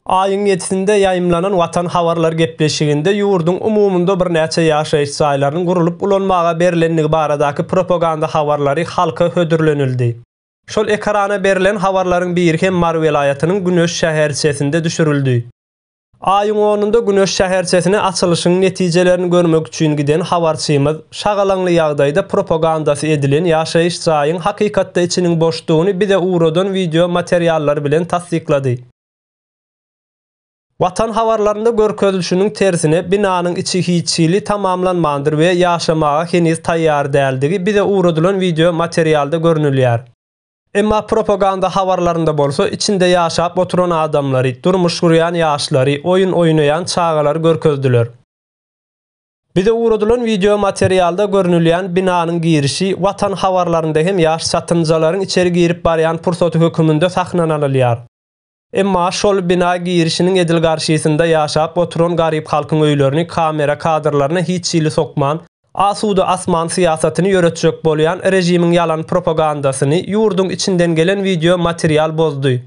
Aýyň ýedisinde ýaýymlanan Watan habarlar gepleşiginde ýurduň umumynda birnäçe ýaşaýyş jaýlarynyň gurlup ulanmaga berlendigi baradaky propaganda habarlary halka hödürlenildi. Şol ekrana berlen habarlaryň biri hem Mary welaýatynyň Güneş şäherçesinde düşürildi. Aýyň onunda Güneş şäherçesine açylyşyň netijelerini görmek üçin giden habarçymyz, şagalaňly ýagdaýda propagandasy edilen ýaşaýyş jaýyň hakykatda içiniň boşdugyny bize ugradan wideo materiallar bilen tassyklady. Watan habarlarynda görkezilişiniň tersine, binanyň içi hiç hili tamamlanmandyr we ýaşamaga heniz taýýar däldigi bize ugradylan wideo materialda görnülýär. Emma propaganda habarlarynda bolsa içinde ýaşap oturan adamlary, durmuş gurýan ýaşlary, oýun oýnaýan çagalary görkezdiler. Bize ugradylan wideo materialda görnülýän binanyň girişi Watan habarlarynda hem ýaş çatynjalaryň içeri girip barýan pursaty höküminde sahnanalylýar. Emma şol bina girişiniň edil garşysynda ýaşap oturan garyp halkyň öýlerini kamera kadrlaryna hiç hili sokman, asuda asman syýasatyny ýöretjek bolýan režimiň ýalan propagandasyny ýurduň içinden gelen wideo material bozdy.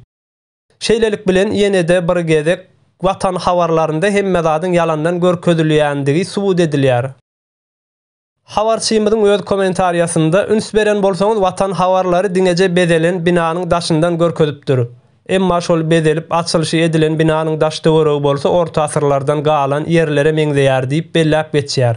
Şeýlelik bilen ýene-de bir gezek Watan habarlarynda hemme zadyň ýalandan görkezilýändigi subut edilýär. Habarçymyzyň öz kommentariýasynda üns beren bolsaňyz Watan habarlary diňeje bezelen binanyň daşyndan görkezipdir. Emma şol bezelip açylyşy edilen binanyň daş töweregi bolsa orta asyrlardan galan ýerlere meňzeýär diýip belläp geçýär.